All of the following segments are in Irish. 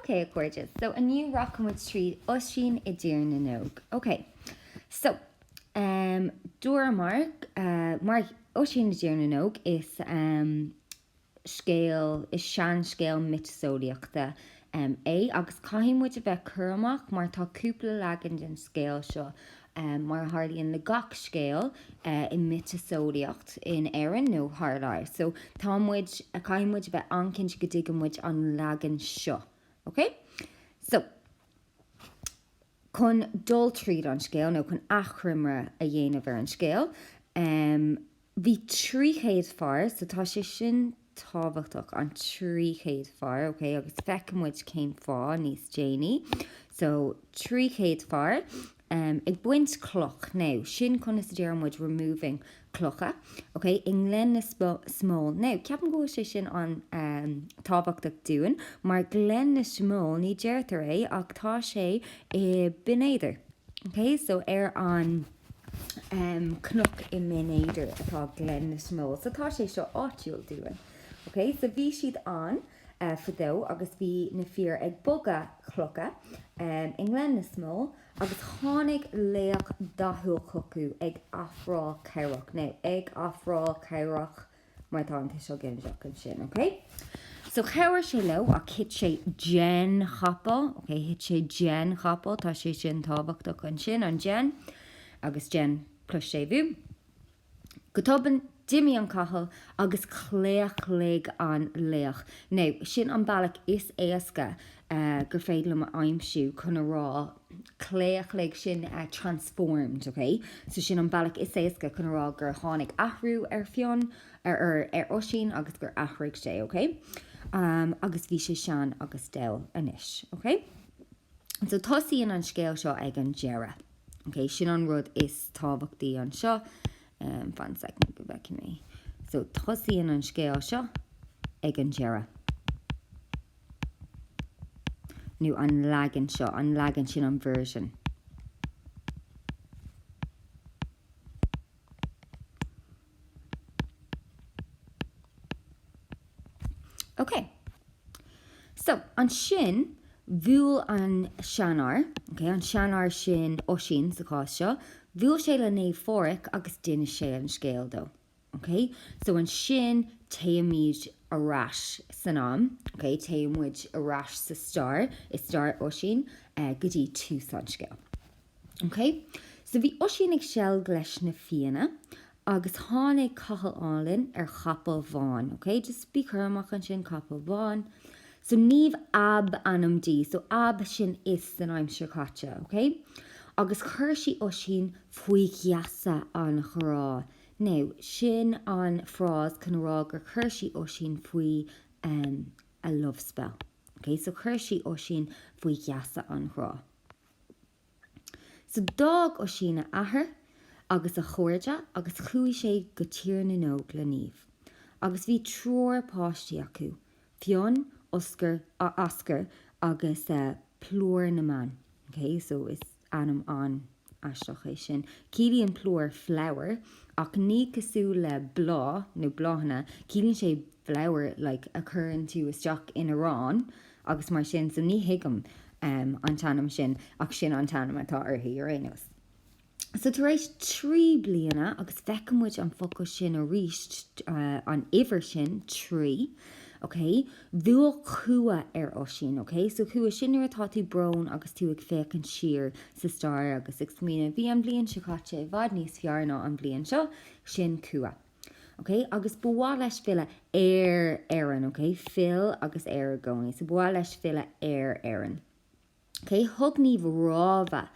OK, a chairde, so inniu rachaidh muid tríd Oisín i dTír na nÓg. OK, so, ehm, dúramar, eh, mar Oisín i dTír na nÓg, is, ehm, scéal, is seanscéal miotaseolaíochta, ehm, é agus caithfidh muid a bheith cúramach mar tá cúpla leagan den scéal seo Mar a tharlaíonn le gach scéal i miotaseolaíocht, in Éirinn nó thar lear, so tá muid, caithfidh muid a bheith an-chinnte go dtuigeann muid an leagan seo, ok? So, chun dul tríd an scéal, nó chun achoimre a dhéanamh ar an scéal, Bhí trí chéad fear, so tá sé sin tábhachtach, an trí chéad fear, ok, agus feicfidh muid cén fáth níos déanaí. So, trí chéad fear, em, ag baint cloch, now, sin conas a deireann muid removing clocha, ok, i nGleann na Smól. Now, ceapaim go bhfuil sé sin an, em, tábhachtach dúinn, mar Gleann na Smól, ní deirtear é, ach tá sé i Binn Éadair, ok, so ar an, cnoc i mBinn Éadair atá Gleann na Smól. So tá sé seo áitiúil dúinn. OK? So bhí siad ann fadó agus bhí na fir ag bogadh clocha i nGleann na Smól agus tháinig laoch dathúil chucu ag ofráil cabhrach. Now, ag ofráil cabhrach mar tá an tuiseal ginideach ansin, ok? So chabhraigh sé leo, ach thit sé den chapall, ok? Thit sé den chapall, tá sé sin tábhachtach ansin, an den, agus den plus séimhiú. Go tobann, d'imigh an capall agus chlaochlaigh an laoch. Now, sin an bealach is éasca gur féidir liom a aimsiú chun a rá claochlaigh sin transformed, ok, so sin an bealach is éasca chun a rá gur tháinig athrú ar Fionn, ar ar Oisín agus gur athraigh sé, ok, agus bhí sé sean agus dall anois, ok. So tosaíonn an scéal seo ag an deireadh, ok, sin an rud is tábhachtaí anseo, fan second go bhfeicfidh mé, so tosaíonn an scéal seo ag an deireadh. nó an leagan seo, an leagan sin, an version. Ok. So, ansin, bhuail an seanfhear, ok, an seanfhear sin, Oisín sa chás seo, bhuail sé le Naomh Pháraic agus d'inis sé an scéal dó. OK, so ansin téimid ar ais san am, OK, téann muid ar ais sa stair, i stair Oisín, go dtí tús an scéil. OK, so bhí Oisín ag seilg leis na Fianna agus tháinig cailín álainn ar chapall bhán, OK, just bí cúramach ansin, capall bán, So Niamh ab ainm di. So ab sin is san aimsir chaite, ok? Agus chuir sí Oisín faoi gheasa an ghrá. Now, sin an frás chun a rá gur chuir sí Oisín faoi, em, a love spell. Ok? So chuir sí Oisín faoi gheasa an ghrá. So d'fhág Oisín a athair agus a chairde agus chuaigh sé go Tír na nÓg le Niamh. Agus bhí triúr páistí acu, Fionn, Oscar, Oscar agus eh Plúr na mBan. Ok, so is ainm an-aisteach é sin. Ciallaíonn plúr flower ach ní cosúil le bláth nó bláthanna, ciallaíonn sé flower like a chuireann tú isteach in arán agus mar sin, so ní thuigim an t-ainm sin, ach sin an t-ainm atá uirthi ar aon nós. So tar éis trí bliana, agus feicfidh muid an focal sin arís, an uimhir sin, trí, ok, bhuail cumha ar Oisín, ok, so cumha sin nuair atá tú brón agus tú ag féachaint siar sa stair agus ag smaoineamh, bhí an bhliain seo caite i bhfad níos fearr ná an bhliain seo, sin cumha. OK, agus ba mhaith leis filleadh ar Éirinn. OK, fill agus ar i gcónaí. So ba mhaith leis filleadh ar Éirinn. OK, thug Niamh rabhadh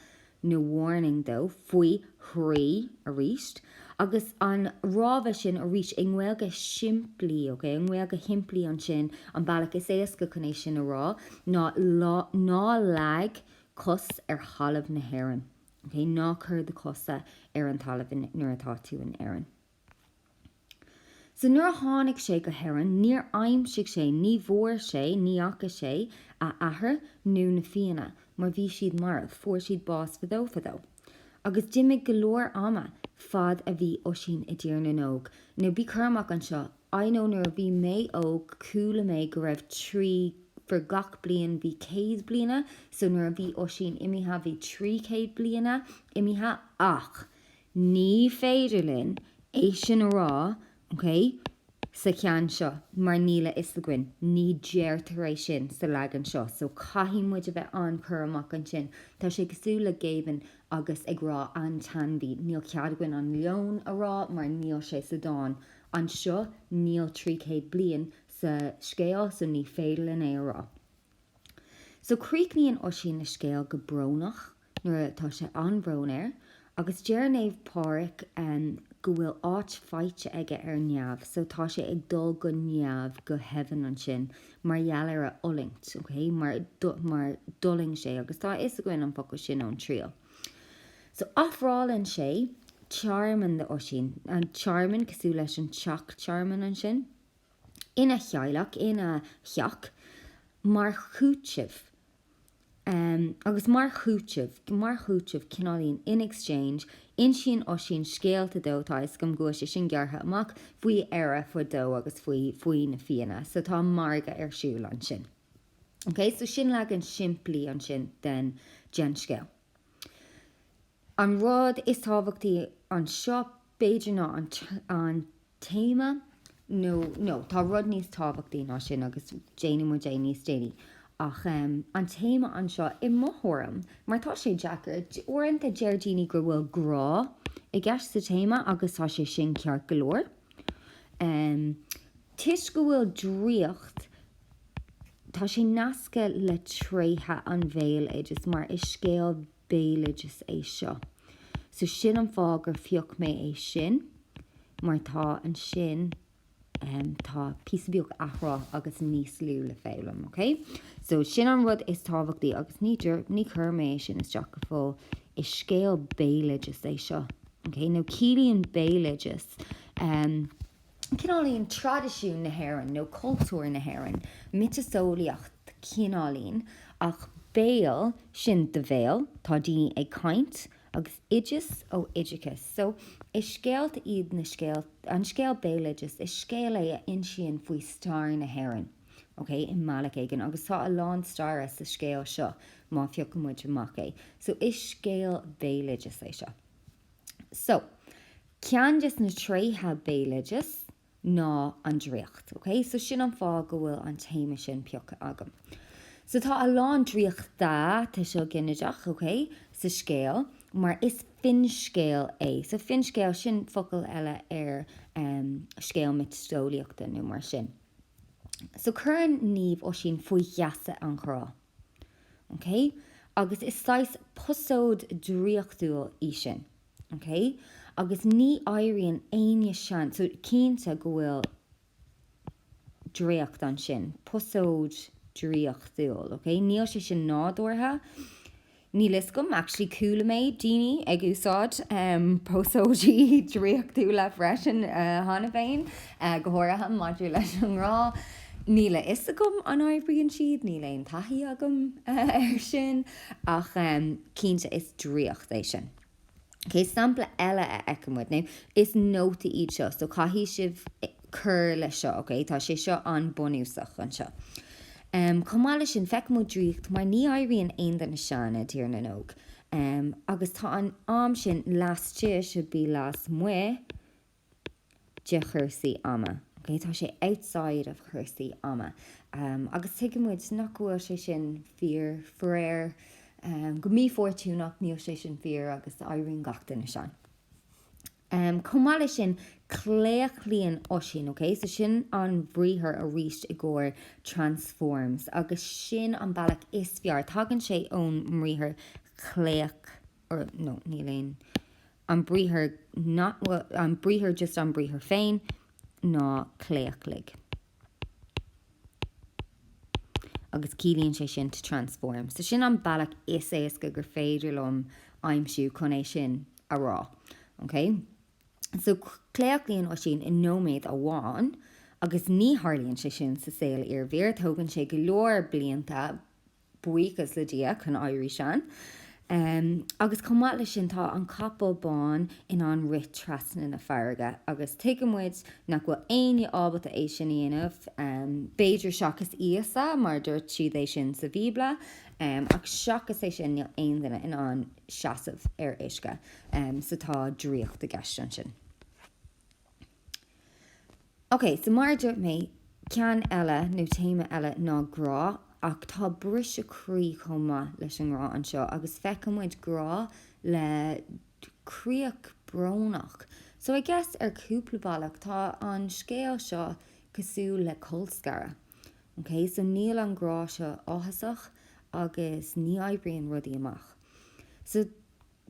nó warning dó faoi thrí arís. Agus an rabhadh sin arís i nGaeilge simplí, OK, i nGaeilge shimplí ansin, an bealach is éasca chun é sin a rá ná, ná leag cos ar thalamh na hÉireann. Ok, ná cuir do chosa ar an talamh nuair atá tú in Éirinn. So nuair a tháinig sé go hÉirinn, níor aimsigh sé, ní bhfuair sé, ní fhaca sé a athair nó na Fianna mar bhí siad marbh, fuair siad bás fadó fadó. Agus d'imigh go leor ama fad a bhí Oisín i dTír na nÓg. Now bí cúramach anseo, I know nuair a bhí mé óg chuala mé go raibh trí for gach bliain bhí céad bliana so nuair a bhí Oisín imithe bhí trí chéad bliana imithe ach ní féidir linn é sin a rá ok sa cheann seo mar níl a fhios againn ní deirtear é sin sa leagan seo so caithfidh muid a bheith an-chúramach ansin tá sé cosúil le Géibheann agus ag rá an t-ainmhí níl cead againn an leon a rá mar níl sé sa dán Anseo níl trí chéad bliain sa scéal so ní féidir linn é a rá. So críochnaíonn Oisín a scéal go brónach nuair a, tá sé an-bhrón air, agus deir Naomh Pádraig go bhfuil áit faighte aige ar neamh, so tá sé ag dul go neamh, go heaven ansin mar gheall ar a fhulaingt, ok, mar d'fhulaing sé agus tá a fhios againn an focal sin ón Triail. So, ofrálann sé tearmann d'Oisín, an tearmann cosúil leis an teach tearmainn ansin, ina theaghlach, ina theach, mar chúiteamh, agus mar chúiteamh, mar chúiteamh, cineáilín, in exchange, insíonn Oisín scéalta dó, tá 'fhios agam go bhfuil sé sin gearrtha amach, faoi Éire fadó agus faoi, faoi na Fianna, so tá margadh ar siúl ansin. Ok, so sin leagan simplí ansin den scéal. An rud is tábhachtaí anseo, b'fhéidir, ná an téama, nó, no, tá rud níos tábhachtaí ná sin agus déanfaidh muid é níos déanaí, ach an téama anseo, i mo thuairim, mar tá sé deacair, uaireanta deir daoine go bhfuil grá i gceist sa téama agus tá sé sin ceart go leor, toisc go bhfuil draíocht Tá sé nasctha le tréithe an bhéaloidis mar is scéal béaloidis é seo. So sin an fáth gur phioc mé é sin mar tá ansin, em, tá píosa beag athrá agus níos lú le foghlaim, ok? So sin an rud is tábhachtaí agus ní deir, ní chuir mé é sin isteach go fóill, is scéal béaloidis é seo, ok? Nó ciallaíonn béaloideas, em, cineáilín traidisiún na hÉireann nó cultúr na hÉireann, miotaseolaíocht cineáilín, ach béal sin do bhéal, tá daoine ag caint, agus oideas ó oideachas. So, is scéalta iad na scéalta, an scéal béaloideas, is scéal é a insíonn faoi stair na hÉireann, ok, i mbealach éigin, agus tá a lán staire sa scéal seo, má phiocfaidh muid amach é. So, is scéal béaloideas é seo. So, ceann des na tréithe béaloideas ná an draíocht, ok? So sin an fáth go bhfuil an téama sin pioctha agam. So tá a lán draíochta, tuiseal ginideach, ok, sa scéal, mar is finscéal é. So finscéal, sin focal eile ar em scéal miotaseolaíochta nó mar sin. So cuireann Niamh Oisín faoi gheasa an ghrá. OK? Agus is saghas posóid draíochtúil í sin. OK? Agus ní éiríonn éinne sean. So, cinnte go bhfuil draíocht ansin. Posóid draíochtúil. OK? Níl sé sin nádúrtha. Níl fhios agam actually, chuala mé daoine ag úsáid posóidí draíochtúla freisin cheana féin, go háirithe maidir leis an ngrá. Níl a fhios agam an oibríonn siad, níl aon taithí agam air sin, ach cinnte is draíocht é sin. Cén sampla eile a fheiceann muid? Now, is nótaí iad seo, so caithfidh sibh cur leis seo, ok? Tá sé seo an-bhunúsach anseo. Chomh maith leis sin, feiceann muid draíocht, mar ní éiríonn aon duine sean, i dTír na nÓg. Agus tá an am sin, lastaigh should be lasmuigh. de chúrsaí ama. Okay, tá sé outside of chúrsaí ama. Agus tuigeann muid nach go bhfuil sé sin fíor, faraor. Go mífhortúnach, níl sé sin fíor agus éiríonn gach duine sean. Chomh maith leis sin, claochlaíonn Oisín, okay? So sin an briathar arís i gcomhair transforms agus sin an bealach is fearr, tagann sé ón mbriathar claoch, or no, níl aon an briathar, not, well, an briathar, just an briathar féin, ná claochlaigh. Agus ciallaíonn sé sin to transform. So sin an bealach is éasca gur féidir liom aimsiú chun é sin a rá. Okay? So claochlaíonn Oisín i nóiméad amháin agus ní tharlaíonn sé sin sa saol iarbhír. Tógann sé go leor blianta. buíochas le Dia, chun éirí sean. Agus chomh maith leis sin, tá an capall bán in ann rith trasna na farraige, agus tuigeann muid nach bhfuil éinne ábalta é sin a dhéanamh, b'fhéidir seachas Íosa, mar dúirt siad é sin sa Bhíobla, ach seachas é sin, níl aon duine in ann seasamh ar uisce, so tá draíocht i gceist ansin. OK, so mar a dúirt mé, ceann eile nó téama eile ná grá, ach tá briseadh croí chomh maith leis an ngrá anseo, agus feiceann muid grá le críoch brónach. So I guess ar cúpla bealach tá an scéal seo cosúil le colscaradh. OK, so níl an grá seo áthasach agus ní oibríonn rudaí amach. So.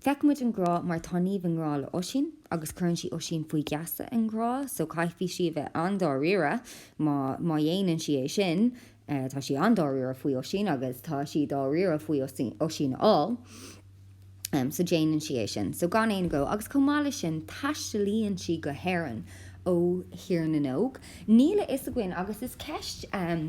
Feiceann muid an grá mar tá Niamh i ngrá le Oisín agus cuireann sí Oisín faoi gheasa an ghrá so caithfidh sí a bheith an-dáiríre má má dhéanann sí é sin tá sí an-dáiríre faoi Oisín agus tá sí dáiríre faoi Oisín a fháil em so déanann sí é sin so gan aon agó agus chomh maith leis sin taistealaíonn sí go hÉireann ó Thír na nÓg níl a fhios againn agus is ceist em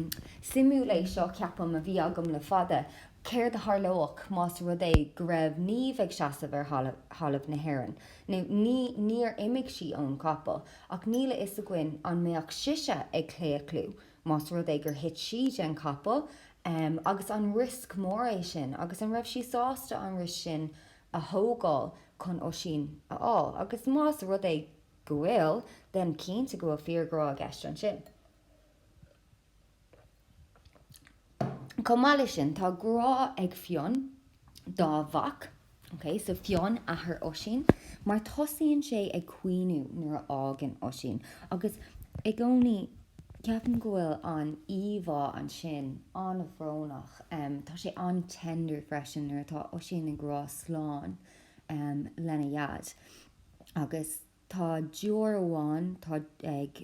suimiúil é seo ceapaim a bhí agam le fada Céard a tharlódh más rud é go raibh Niamh ag seasamh ar thalamh na hÉireann? Nó ní, níor imigh sí ón gcapall, ach níl a fhios againn an mbeadh sise ag claochlú más rud é gur thit sí den chapall. Agus an riosca mór é sin? Agus an raibh sí sásta an riosca sin a thógáil chun Oisín a fháil? Agus más rud é go bhfuil, bheinn cinnte go bhfuil fíorghrá i gceist ansin. Chomh maith leis sin, tá grá ag Fionn dá mhac, ok, so Fionn, athair Oisín, mar tosaíonn sé ag caoineadh nuair a fhágann Oisín, agus i gcónaí, ceapaim go bhfuil an íomhá ansin an-bhrónach, em, tá sé an-tender freisin nuair atá Oisín ag rá slán, em, lena dhaid, agus. Tá deoir amháin atá ag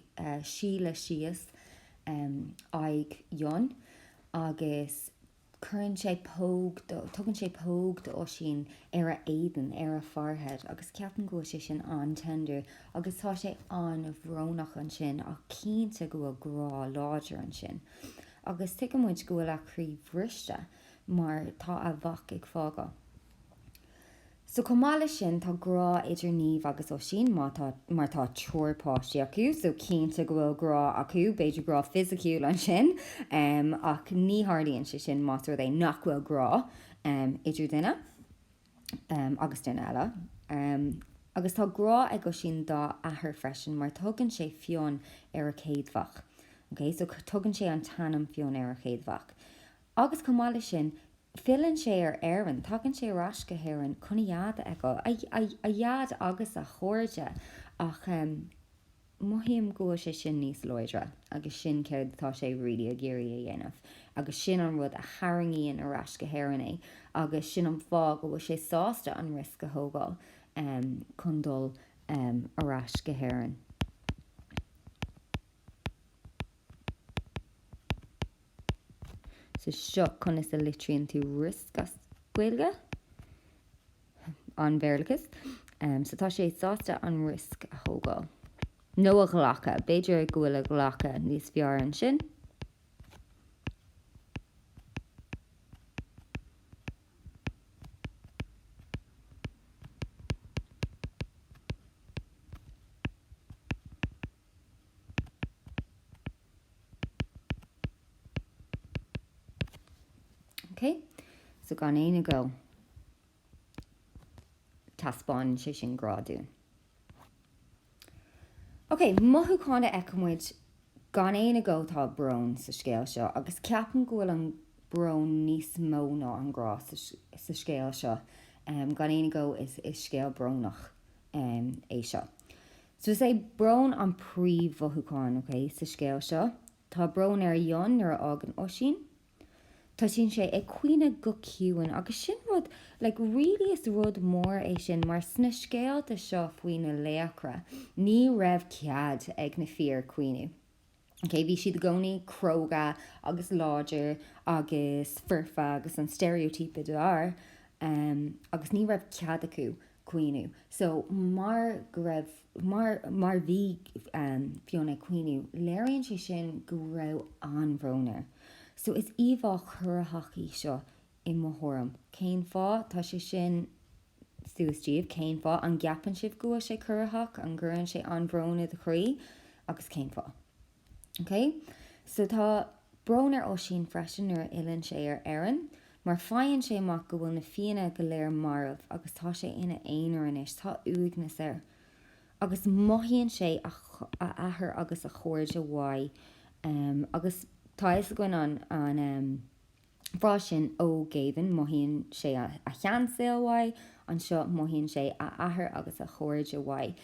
sileadh síos aghaidh Fhionn agus cuireann sé póg, tugann sé póg d'Oisín ar a éadan, ar a forehead, agus ceapaim go bhfuil sé sin an-tender agus tá sé an-bhrónach ansin ach cinnte go bhfuil grá láidir ansin. Agus tuigeann muid go bhfuil a chroí bhriste mar tá a mhac ag fágáil. So, chomh maith leis sin, tá grá idir Niamh agus Oisín, em, mar tá triúr páistí acu, so cinnte go bhfuil grá acu, b'fhéidir grá fisiciúil ansin, ach ní tharlaíonn sé sin más rud é nach bhfuil grá idir duine agus duine eile. Agus tá grá ag Oisín dá athair freisin, mar tugann sé Fionn ar a chéad mhac, okay? So tugann sé an t-ainm Fionn ar a chéad mhac. Agus chomh maith leis sin, filleann sé ar Éirinn, tagann sé ar ais go hÉirinn chun a dhaid, a, a dhaid agus a chairde, ach mothaím go bhfuil sé sin níos láidre agus sin céard atá sé really ag iarraidh a dhéanamh agus sin an rud a tharraingíonn ar ais go hÉirinn é agus sin an fáth go bhfuil sé sásta an risk a thógáil chun dul ar ais go hÉirinn. So seo conas a litríonn tú riosc as Gaeilge, an-Bhéarlachas. So tá sé sásta an riosc a thógáil. Nó a ghlacadh. B'fhéidir go bhfuil a ghlacadh níos fearr ansin. Ok, so gan aon agó, taispeánann sé sin grá dúinn. Ok, mothúchán a fheiceann muid, gan aon agó tá brón sa scéal seo, agus ceapaim go bhfuil an brón níos mó ná an grá sa scéal seo, gan aon agó is scéal brónach é seo. So is é brón an príomh-mhothúchán, ok, sa scéal seo. Tá brón ar Fhionn nuair a fhágann Oisín. Tosaíonn sé ag caoineadh go ciúin agus sin rud, like, really is rud mór é sin mar sna scéalta seo faoi na laochra, ní raibh cead ag na fir caoineadh. OK, bhí siad i gcónaí cróga agus láidir agus foirfe agus an steiréitíopa d'fhear. Agus ní raibh cead acu caoineadh. So mar go raibh, mar, mar bhí Fionn ag caoineadh, léiríonn sé sin go raibh an-bhrón air. So is íomhá chorraitheach í seo I mo thuairim. Cén fáth? Tá sé sin suas daoibh. Cén fáth? An gceapann sibh go bhfuil sé corraitheach? An gcuireann sé an-bhrón i do chroí? Agus cén fáth? OK? So tá brón ar Oisín freisin nuair a fhilleann sé ar Éirinn. Mar faigheann sé amach go bhfuil na Fianna go léir marbh agus tá sé ina aonar anois. Tá uaigneas air. Agus mothaíonn sé a athair agus a chairde uaidh. Agus tá a fhios againn an frása sin, ó Géibheann, mothaíonn sé a sheansaol uaidh, anseo, mothaíonn sé a athair agus a chairde uaidh,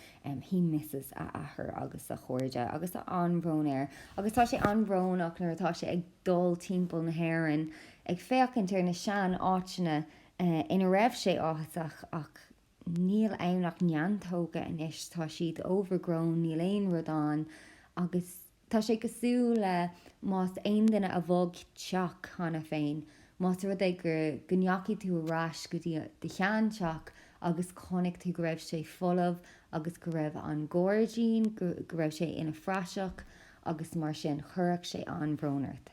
he misses a athair agus a chairde, agus tá an-bhrón air, agus tá sé an-bhrónach nuair atá sé ag dul timpeall na hÉireann ag féachaint ar na sean-áiteanna ina raibh sé áthasach, ach níl ann ach neantóga anois, tá siad overgrown, níl aon rud ann, agus. Tá sé cosúil le más aon duine a bhog teach cheana féin, más rud é go ndeachaigh tú ar ais go dtí do shean-teach agus chonaic tú go raibh sé folamh agus go raibh an gairdín, go raibh sé ina phraiseach agus mar sin, chuirfeadh sé an-bhrón ort.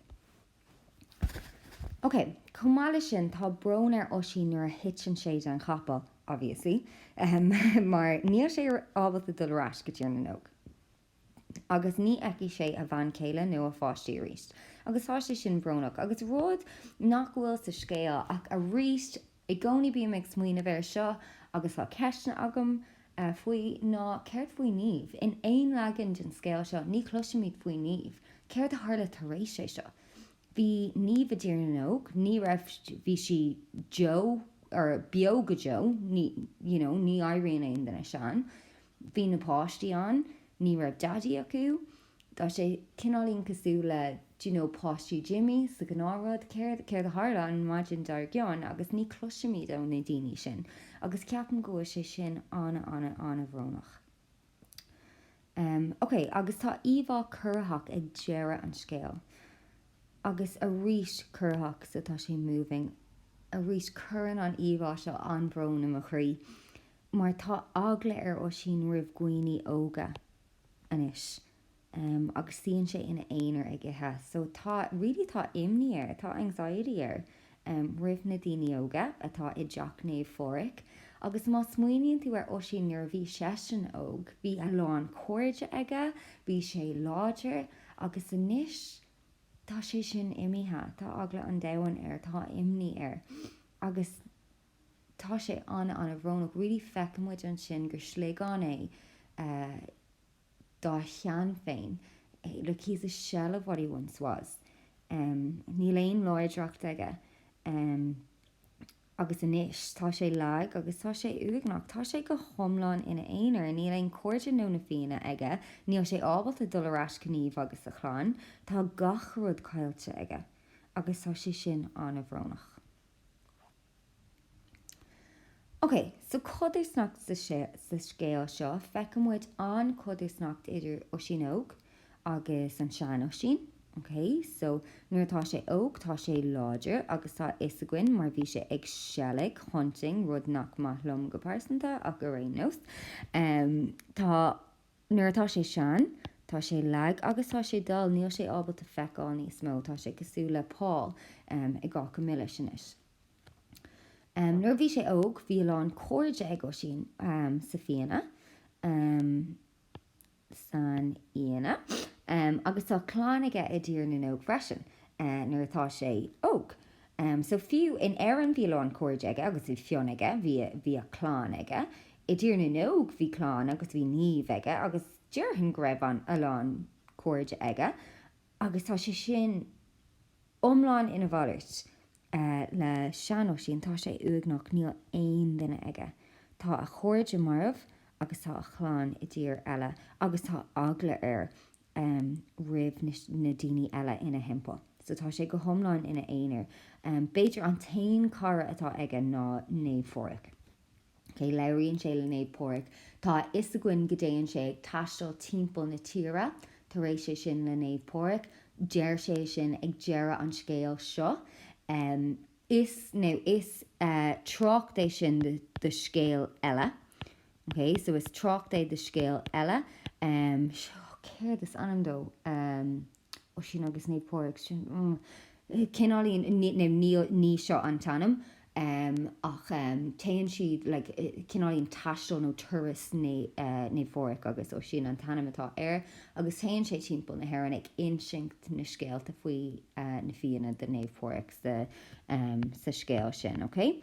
Ok, chomh maith leis sin, tá brón ar Oisín nuair a thiteann sé den chapall, obviously, mar níl sé ábalta dul ar ais go Tír na nÓg. agus ní fheicfidh sé a bhean chéile nó a pháistí arís, agus tá sé sin brónach. Agus rud nach bhfuil sa scéal, ach arís, i gcónaí bím ag smaoineamh air seo agus tá ceisteanna agam faoi, ná céard faoi Niamh? In aon leagan den scéal seo, ní chloisimid faoi Niamh. Céard a tharla tar éis é seo? Bhí Niamh i dTír na nÓg, ní raibh, bhí sí deo, er, beo go deo, ní, you know, ní éiríonn aon duine sean. Bhí na páistí ann, ní raibh daidí acu. Tá sé cineáilín cosúil le d'you know páistí Jimmy sa Gnáthrud, céard, céard a tharla an maidin dar gcionn agus ní chloisimid ó na daoine sin agus ceapaim go bhfuil sé sin ana ana ana bhrónach. Em, ok agus tá íomhá corraitheach ag deireadh an scéil agus arís corraitheach so tá sé moving, arís cuireann an íomhá seo an-bhrón i mo chroí. mar tá eagla ar Oisín roimh dhaoine óga anois agus suíonn sé ina aonar ag ithe so tá really tá imní air, tá anxiety air roimh na daoine óga atá i dteach Naomh Pháraic agus má smaoiníonn tú ar Oisín nuair a bhí seisean óg, bhí a lán cairde aige, bhí sé láidir agus anois tá sé sin imithe, tá eagla an domhain air, tá imní air agus. Tá sé an-an-bhrónach. Really feiceann muid ansin gur sliogán é dá shean féin. Like he's a shell of what he once was. Níl aon láidreacht aige. Agus anois tá sé lag agus tá sé uaigneach. Tá sé go hiomlán ina aonar. Níl aon cairde nó na Fianna aige. Níl sé ábalta dul ar ais go Niamh agus a chlann. Tá gach rud caillte aige. Agus tá sé sin an-bhrónach. Ok, so codarsnacht sa scéal seo, feiceann muid an codarsnacht idir Oisín óg agus an sean Oisín. Ok, so nuair atá sé óg, tá sé láidir agus tá a fhios againn mar bhí sé ag seilg, hunting, rud nach maith liom go pearsanta ach ar aon nós, tá, Nuair atá sé sean, tá sé lag agus tá sé dall, níl sé ábalta feiceáil níos mó, tá sé cosúil le Paul i gCáca Milis anois. Nuair a bhí sé óg, bhí a lán cairde ag Oisín sa Fianna, san Fhianna, agus tá clann aige i dTír na nÓg freisin, nuair atá sé óg. So, fiú in Éirinn, bhí a lán cairde aige agus bhí Fionn aige, bhí a chlann aige, I dTír na nÓg bhí clann agus bhí Niamh aige agus déarfainn go raibh an a lán cairde aige agus tá sé sin iomlán ina mhalairt le sean-Oisín, tá sé uaigneach, níl aon duine aige, tá a chairde marbh agus tá a chlann i dtír eile agus tá eagla air roimh na daoine eile ina thimpeall so tá sé go hiomlán ina aonar, b'fhéidir an t-aon cara atá aige ná Naomh Pháraic. OK, labhraíonn sé le Naomh Páraic. Tá a fhios againn go dtéann sé ag taisteal timpeall na tíre tar éis é sin le Naomh Páraic. Deir sé é sin ag deireadh an scéil seo. Is, nó is, trácht é sin do scéal eile. OK? So is trácht é do scéal eile. So, céard is ainm dó? Oisín agus Naomh Páraic, sin cineál í, ní seo an t-ainm ach téann siad, like cineál í taisteal nó turas Naomh Pháraic agus Oisín an t-ainm atá air agus téann sé timpeall na hÉireann ag insint na scéalta faoi na Fianna do Naomh Páraic sa scéal sin, ok?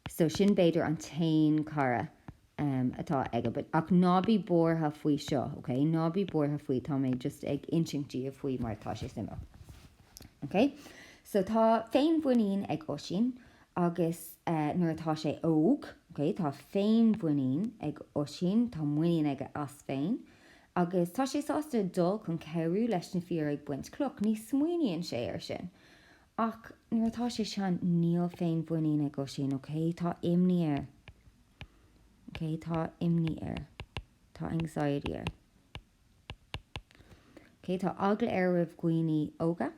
So sin b'fhéidir an t-aon cara. um, atá aige but, ach ná bí buartha faoi seo, ok, ná bí buartha faoi, tá mé just ag insint díobh faoi mar tá sé suimiúil. Ok, so tá féinmhuinín ag Oisín agus eh, nuair atá sé óg, ok, tá féinmhuinín ag Oisín, tá muinín aige as féin agus tá sé sásta dul chun cabhrú leis na fir ag baint cloch, ní smaoiníonn sé ar sin. Ach nuair atá sé sean, níl féinmhuinín ag Oisín, ok, tá imní air. Ok, tá imní air? Tá anxiety air. Ok, tá eagla air roimh dhaoine óga?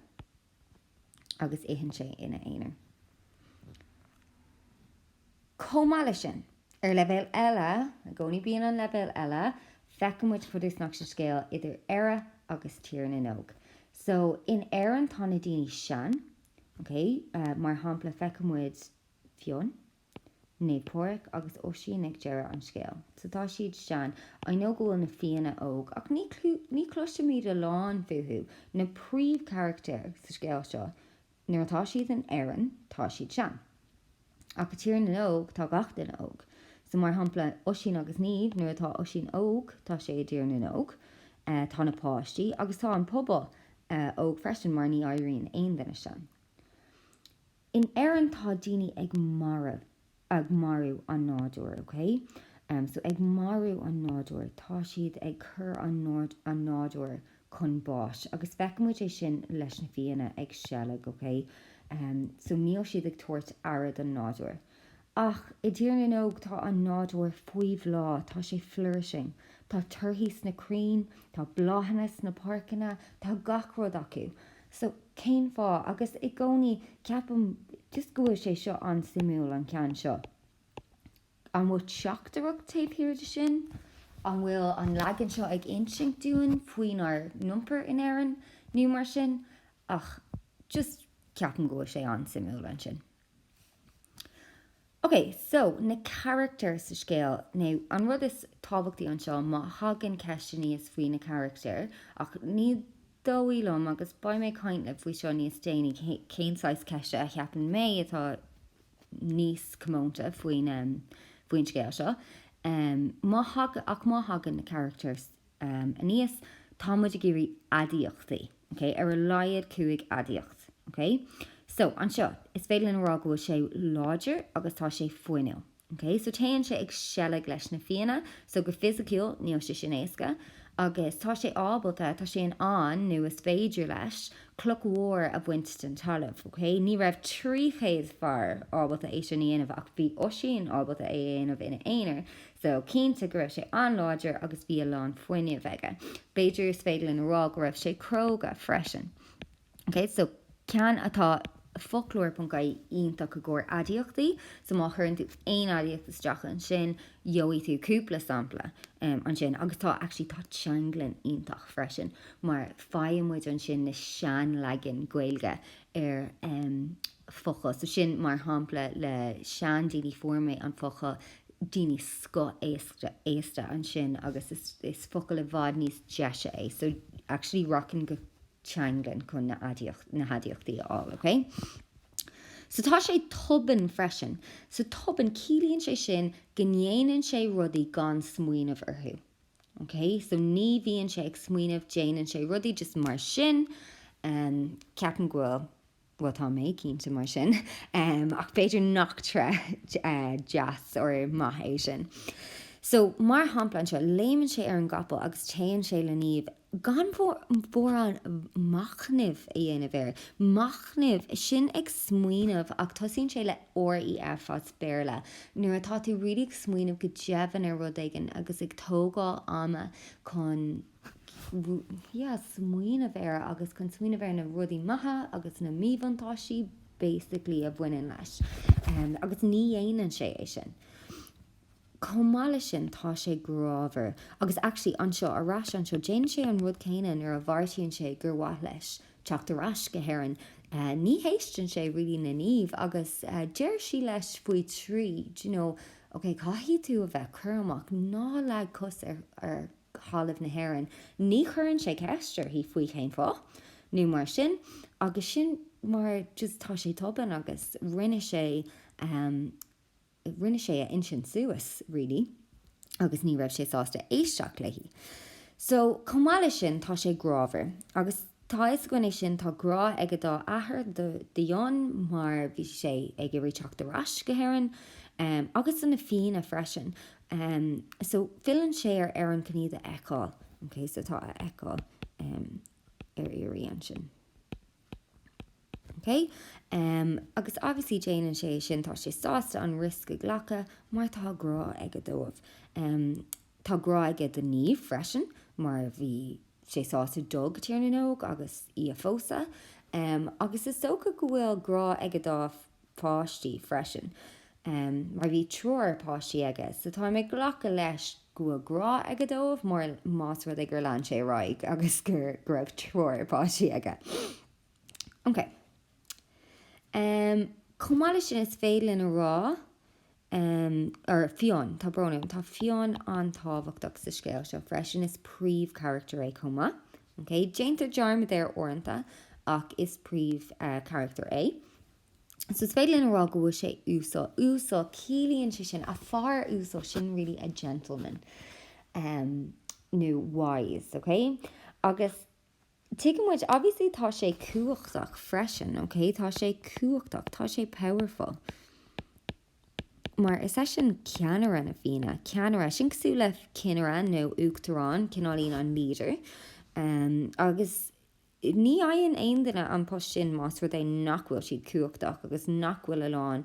Agus itheann sé ina aonar. Chomh maith leis sin, ar leibhéal eile, i gcónaí bíonn an leibhéal eile, feicimid fud is nach sa scéal idir Éire agus Tír na nÓg. So, in Éirinn tá na daoine sean, okay, mar shampla feicimid Fionn. Naomh Pádraic agus Oisín ag deireadh an scéil. So tá siad sean, I know go bhfuil na Fianna óg, ach ní, ní chloisimid a lán fúthu, na príomhcharactair sa scéal seo, nuair atá siad in Éirinn tá siad sean. Ach i dTír na nÓg tá gach duine óg. So mar shampla Oisín agus Niamh, nuair atá Oisín óg tá sé i dTír na nÓg, tá na páistí agus tá an pobal óg freisin mar ní éiríonn aon duine sean. In Éirinn tá daoine ag mar, ag marú an nádúir, ok? em so ag marú an nádúir, tá siad ag cur an nord, an nádúir chun báis agus feicimid é sin leis na fianna ag seilg, ok? Em so níl siad ag tabhairt aire don nádúir. Ach i dTír na nÓg tá an nádúr faoi bhláth, tá sé flourishing. Tá torthaí sna crainn, tá bláthanna sna páirceanna, tá gach rud acu. So cén fáth? Agus i gcónaí ceapaim just go bhfuil sé seo an-suimiúil, an ceann seo. An bhfuil teachtaireacht taobh thiar de sin? An bhfuil an leagan seo ag insint dúinn faoinár n-iompar in Éirinn nó mar sin? Ach just ceapaim go bhfuil sé an-suimiúil ansin. OK, so, na carachtair sa scéal. Now, an rud is tábhachtaí anseo, má thagann ceist aníos faoi na carachtair, ach ní dóigh liom, agus beidh mé ag caint libh faoi seo níos déanaí, cén saghas ceiste a cheapann mé atá níos comónta faoin scéal seo, má thagann na carachtair um, aníos, tá muid ag iarraidh aidiachtaí, ok, ar a laghad cúig aidiacht, ok? So, anseo, is féidir linn a rá go bhfuil sé láidir agus tá sé fuinniúil, ok? So, téann sé ag seilg leis na fianna, so, go fisiciúil, níl sé sin éasca, agus tá sé ábalta, tá sé in ann, nó is féidir leis, cloch mhór a bhaint den talamh, ok? Ní raibh trí chéad fear ábalta é sin a dhéanamh ach bhí Oisín ábalta é a dhéanamh ina aonar, So, cinnte, go raibh sé an-láidir agus bhí a lán fuinnimh aige. B'fhéidir is féidir linn a rá go raibh sé cróga freisin. OK, so ceann atá Foclóir.ie iontach i gcomhair aidiachtaí. So má chuireann tú aon aidiacht isteach ansin, gheobhaidh tú cúpla sampla ansin. Agus tá, actually, tá teanglann iontach freisin mar faigheann muid ansin na seanleagain Gaeilge ar an bhfocal. So sin mar shampla le seandaoine, fuair mé an focal daoine scoth-aosta ansin agus is focal i bhfad níos deise é. So actually rachainn go teanglann chun na haidiachtaí a fháil, ok? So tá sé tobann freisin. So tobann, ciallaíonn sé sin go ndéanann sé rudaí gan smaoineamh orthu. OK, so ní bhíonn sé ag smaoineamh, déanann sé rudaí just mar sin. Ceapaim go bhfuil, bhuel tá mé cinnte mar sin, ach b'fhéidir nach tréith deas or maith é sin. So mar shampla anseo, léimeann sé ar an gcapall agus téann sé le Niamh. gan mórán machnaimh a dhéanamh air. Machnaimh, sin ag smaoineamh ach tosaíonn sé le REF as Béarla, nuair atá tú really ag smaoineamh go domhain ar rud éigin agus ag tógáil ama chun yeah smaoineamh air agus chun smaoineamh ar na rudaí maithe agus na míbhuntáistí basically a bhaineann leis. Agus ní dhéanann sé é sin. Chomh maith leis sin, tá sé grámhar. Agus actually, anseo, ar ais anseo, déanann sé an rud céanna nuair a bheartaíonn sé gur mhaith leis teacht ar ais go hÉirinn. Ní héisteann sé really le Niamh agus deir sí leis faoi thrí, do you know, ok, caithfidh tú a bheith cúramach, ná leag cos ar thalamh na hÉireann. Ní chuireann sé ceist uirthi faoi cén fáth nó mar sin agus sin mar just tá sé tobann agus rinne sé. Rinne sé a intinn suas, really, agus ní raibh sé sásta éisteacht léi. So, chomh maith leis sin, tá sé grámhar. Agus tá a fhios againn é sin, tá grá aige dá athair, do Fhionn, mar bhí sé ag iarraidh teacht ar ais go hÉirinn, agus do na Fianna freisin. So, filleann sé ar Éirinn chun iad a fheiceáil. Ok, so tá a fheiceáil ar iarraidh ansin. OK? Agus obviously déanann sé é sin, tá sé sásta an risk a ghlacadh mar tá grá aige dóibh. Tá grá aige do Niamh freisin mar bhí sé sásta dul go Tír na nÓg, agus í a phósadh. Agus is dócha go bhfuil grá aige dá pháistí freisin, mar bhí triúr páistí aige, so táim ag glacadh leis go bhfuil grá aige dóibh mar más rud é gur lean sé ar aghaidh agus go raibh triúr páistí aige. Chomh maith leis sin, is féidir linn a rá Em, ar Fionn, tá brón orm, tá Fionn an-tábhachtach sa scéal seo freisin, is príomhcharachtar é chomh maith, ok? Déantar dearmad air uaireanta ach is príomh, eh, charachtar é. So is féidir linn a rá go bhfuil sé uasal, uasal, ciallaíonn sé sin, a fear uasal, sin really a gentleman, em, nó wise, ok? Agus. Tuigeann muid, obviously, tá sé cumhachtach freisin, ok? Tá sé cumhachtach, tá sé powerful. Mar is eisean ceannaire na Fianna, ceannaire, sin cosúil le cinnire nó uachtarán, cineáilín an leader. Agus ní fhaigheann aon duine an post sin más rud é nach bhfuil siad cumhachtach agus nach bhfuil a lán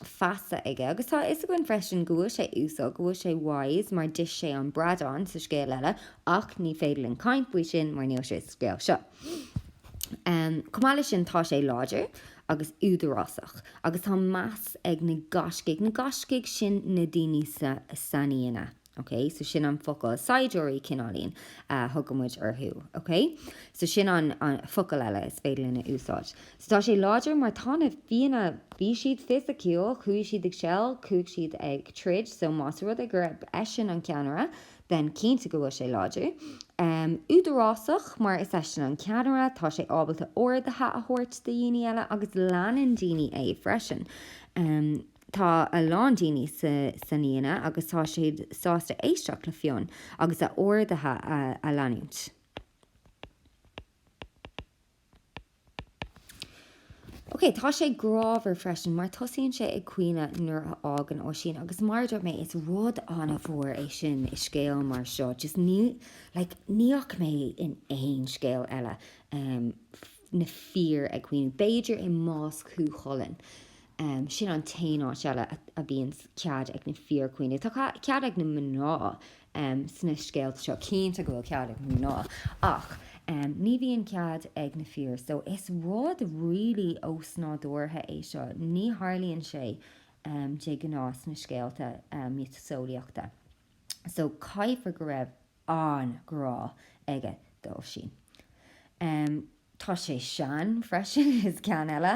feasa aige. Agus tá a fhios againn freisin go bhfuil sé uasal, go bhfuil sé wise, mar d'ith sé an bradán, sa scéal eile, Ach ní féidir linn caint faoi sin mar níl sé sa scéal seo. Chomh maith leis sin, tá sé láidir agus údarásach agus tá meas ag na gaiscigh, na gaiscigh sin na daoine sna Fianna, ok, so sin an focal, saighdiúirí cineáilín a thugann muid orthu, ok, so sin an focal eile is féidir linn a úsáid. So tá sé láidir mar tá na Fianna, bhí siad fisiciúil, chuaigh siad ag seilg, chuaigh siad ag troid, so más rud é gurb eisean an ceannaire, Then cinnte go bhfuil sé láidir. Údarásach, mar is eisean an ceannaire, tá sé ábalta orduithe a thabhairt do dhaoine eile agus leanann daoine é freisin. Tá a lán daoine sna Fianna agus tá siad sásta éisteacht le Fionn agus a orduithe a leanúint. Ok, tá sé grámhar freisin, mar tosaíonn sé ag caoineadh nuair a fhágann Oisín, agus mar a dúirt mé, is rud an-mhór é sin i scéal mar seo, just ní, like, ní fhaca mé in aon scéal eile, em, na fir ag caoineadh, b'fhéidir i mbás Chú Chulainn, em, sin an t-aon áit eile a, a bhíonn cead ag na fir caoineadh, tá cead ag na mná em sna scéalta seo. Cinnte go bhfuil cead ag na mná, ach em ní bhíonn cead ag na fir so is rud really ósnádúrtha é seo, ní tharlaíonn sé em de ghnáth sna scéalta em miotaseolaíochta. So caithfear go raibh an-ghrá aige d'Oisín. Em. Tá sé sean freisin is ceann eile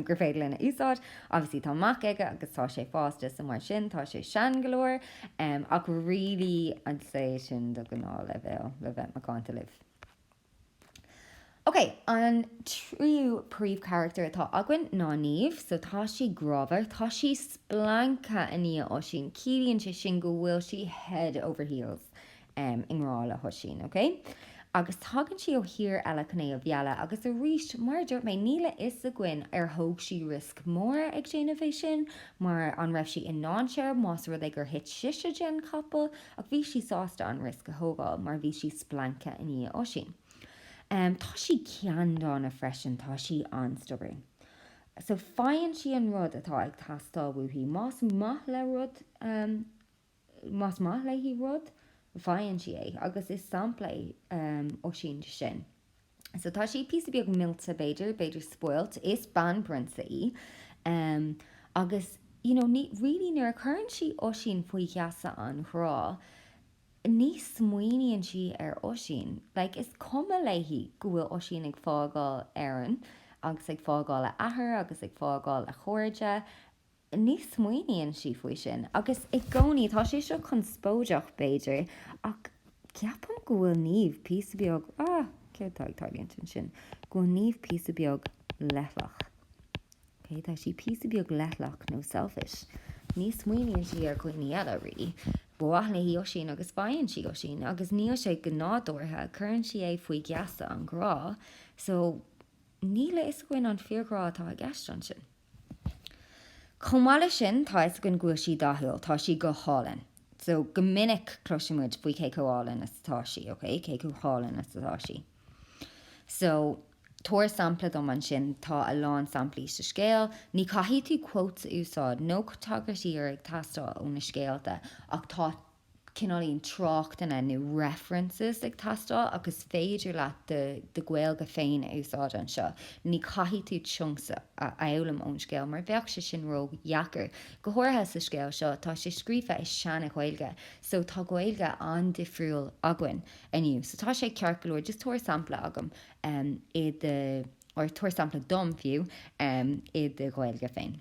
gur féidir linn a úsáid. Obviously tá mac aige agus tá sé fásta so mar sin tá sé sean go leor. Ach really I'd say sin do ghnáthleibhéal le bheith macánta libh. Ok, an tríú príomhcharachtar atá againn ná Niamh so tá sí grámhar, tá sí splanctha i ndiaidh Oisín, ciallaíonn sé sin go bhfuil sí head over heels i ngrá le hOisín, ok? Agus tagann sí ó thír eile chun é a mhealladh, agus arís, mar a dúirt mé, níl a fhios againn ar thóg sí riosc mór ag déanamh é sin, mar an raibh sí i ndainséar más rud é gur thit sise den chapall, ach bhí sí sásta an riosc a thógáil mar bhí sí splanctha i ndiaidh Oisín. Tá sí ceanndána freisin, tá sí an-stubborn. So faigheann sí an rud atá ag teastáil uaithi, más maith léi rud, Más maith léi rud, faigheann sí é, agus is sampla é Oisín de sin. So tá sí píosa beag millte, b'fhéidir, b'fhéidir spoilt, is banphrionsa í, agus you know ní, really nuair a chuireann sí Oisín faoi gheasa an ghrá, ní smaoiníonn sí ar Oisín, like is cuma léi go bhfuil Oisín ag fágáil Éireann agus ag fágáil a athair agus ag fágáil a chairde, Ní smaoiníonn sí faoi sin, agus i gcónaí. Tá sé seo conspóideach, b'fhéidir, ach ceapaim go bhfuil Niamh píosa beag, ah, céard atá ag tarlúint ansin? go bhfuil Niamh píosa beag leithleach. Ok, tá sí píosa beag leithleach nó selfish. Ní smaoiníonn sí ar dhuine eile, really. Ba mhaith léi Oisín agus faigheann sí Oisín, agus níl sé go nádúrtha, cuireann sí é faoi gheasa an ghrá, so níl a fhios againn an fíor-ghrá atá i gceist ansin. Chomh maith leis sin, tá a fhios againn go bhfuil sí dathúil, tá sí go hálainn. So, go minic cloiseann muid faoi cé chomh hálainn is atá sí, ok, cé chomh hálainn is atá sí. So, tabhair sampla dom ansin, tá a lán samplaí sa scéal, ní chaithfidh tú quotes a úsáid, níl quotes ar bith ag teastáil ó na scéalta, ach tá cineáilín tráchtanna nó 'references' ag teastáil ach is féidir leat do Ghaeilge féin a úsáid anseo. Ní chaithfidh tú 'chunks' a fhoghlaim ón scéal mar bheadh sé sin ró dheacair. Go háirithe sa scéal seo, tá sé scríofa i seana Ghaeilge so tá Gaeilge an-difriúil againn inniu so tá sé ceart go leor just tabhair sampla agam i do or tabhair sampla dom fiú i do Ghaeilge féin.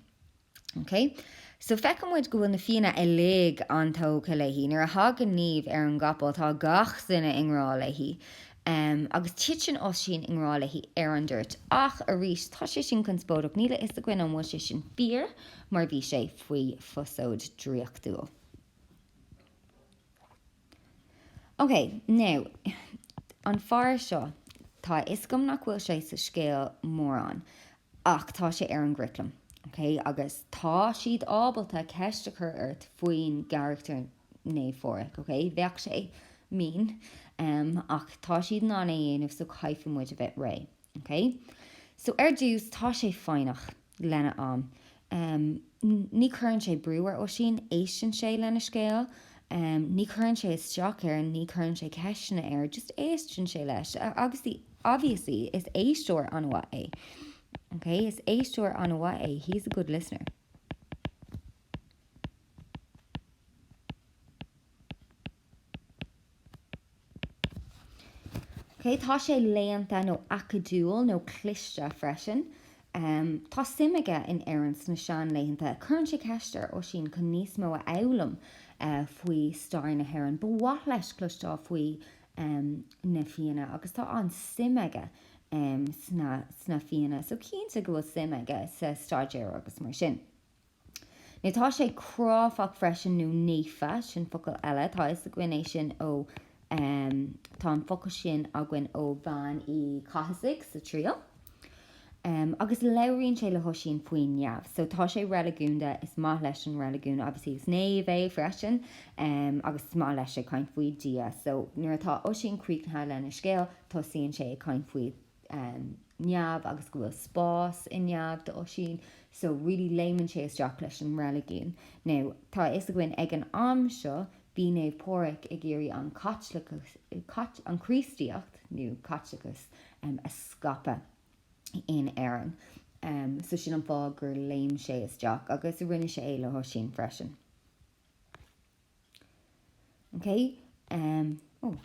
OK, so feiceann muid go bhfuil na Fianna uilig an-tógtha léi. Nuair a thagann Niamh ar an gcapall, tá gach duine i ngrá léi. Agus titeann Oisín i ngrá léi ar an dtoirt. Ach, arís, tá sé sin conspóideach. Níl a fhios againn an bhfuil sé sin fíor, mar bhí sé faoi phosóid dhraíochtúil. OK, now, an fear seo, tá a fhios agam nach bhfuil sé sa scéal mórán, ach tá sé ar an gcuraclam, OK? Agus tá siad ábalta ceist a chur ort faoin gcarachtar Naomh Phádraig, OK? Bheadh sé mean, em, ach tá siad in ann é a dhéanamh, so caithfimid a bheith réidh. OK, so ar dtús tá sé foighneach lena am. Ní chuireann sé brú ar Oisín, éisteann sé lena scéal. Ní chuireann sé isteach air, ní chuireann sé ceisteanna air, just éisteann sé leis. Agus obviously is éisteoir an-mhaith é. OK, is éisteoir an-mhaith é, he's a good listener. Tá sé léannta nó acadúil nó cliste freisin. Tá suim aige in Éirinn sna seanlaethanta. Cuireann sé ceist ar Oisín chun níos mó a fhoghlaim faoi stair na hÉireann. Ba mhaith leis cloisteáil faoi na Fianna agus tá an-suim aige sna Fianna so cinnte go bhfuil suim aige sa stair agus mar sin. Now tá sé cráifeach freisin, nó naofa, sin focal eile, tá a fhios againn é sin ó, em, tá an focal sin againn ó Bhean Uí Chathasaigh sa Triail, em, agus labhraíonn sé le hOisín faoin neamh, so tá sé reiligiúnda, is maith leis an reiligiún, obviously is naomh é freisin, em, agus is maith leis ag caint faoi Dhia, so nuair atá Oisín críochnaithe lena scéal, tosaíonn sé ag caint faoi neamh agus go bhfuil spás i neamh do Oisín so really léimeann sé isteach leis an reiligiún. Now tá a fhios againn ag an am seo bhí Naomh Pádraig ag iarraidh an Chríostaíocht nó Caitliceachas a scaipeadh in Éirinn so sin an fáth gur léim sé isteach agus a rinne sé é le hOisín freisin. Okay. Oh.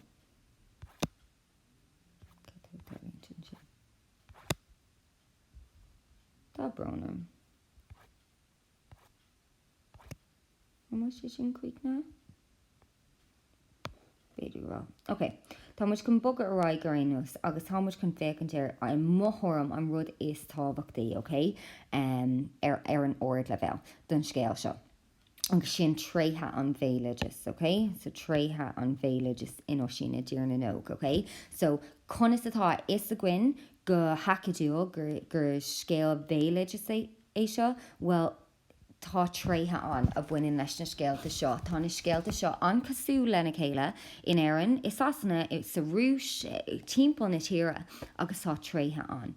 Tá brón orm. An bhfuil sé sin cuid ná? Beidir rá. Ok, Tá muid chun bogadh ar aghaidh go réidh anois agus tá muid chun féachaint ar i mo thuairim an rud is tábhachtaí, ok, ar an ardleibhéal don scéal seo. agus sin tréithe an bhéaloidis, ok? So tréithe an bhéaloidis in Oisín i dTír na nÓg, ok? So conas atá a fhios againn go hacadúil gur, gur scéal béaloidis é, é seo? Bhuel, tá tréithe ann a bhaineann leis na scéalta seo. Tá na scéalta seo an-chosúil lena chéile in Éirinn, i Sasana, sa Rúis, timpeall na tíre, agus tá trí an-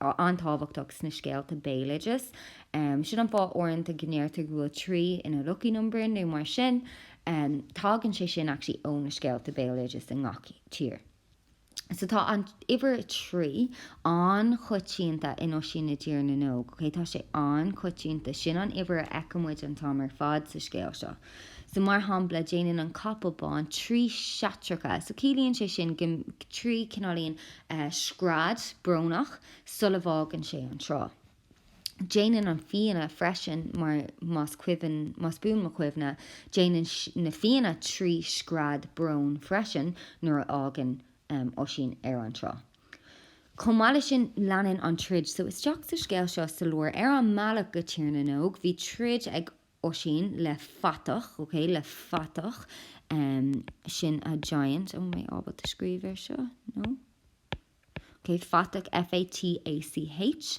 an-tábhachtach sna scéalta béaloideas. Sin an fáth uaireanta go ndeirtear go bhfuil trí ina lucky number nó mar sin. Tagann sé sin actually ó na scéalta béaloideas i ngach tír. So tá an uimhir a trí an-choitianta in Oisín i dTír na nÓg, okay? Tá sé an-choitianta. Sin an uimhir a fheiceann muid an t-am ar fad sa scéal seo. So, mar shampla, déanann an capall bán trí seitreacha. So, ciallaíonn sé sin go, trí, cineáilíonn scread brónach sula bhfágann sé an trá. Déanann an Fhiann freisin, mar, más cuimhin, más buan mo chuimhne, déanann na fianna trí scread bróin freisin nuair a fhágann Oisín an trá. Chomh maith leis sin, leanann an troid. So, isteach sa scéal seo sa lár, ar an mbealach go Tír na nÓg, bhí troid ag. Oisín, le fathach, ok, le fathach, sin a giant, an bhfuil mé ábalta scríobh air seo, no? ok, fathach, F-a-t-a-c-h,